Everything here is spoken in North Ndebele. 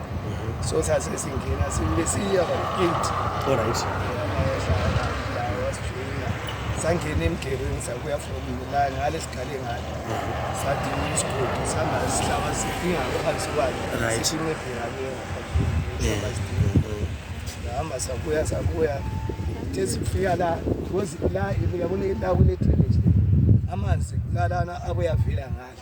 Mm-hmm. So sasa sisi ngine simlisia kwa gate. All right. Sangene emgerini sakuya from Milan ngale sikhale ngale. Mm-hmm. Sathi isigodi sihamba sihlaba sifinga ngaphansi kwakhe. Right. Sishime phiranye ngaphansi. Ngihamba sakuya sakuya. Tezi kufika la, kozi la, yabona la kune drainage. Amanzi kulalana abuyavela ngale.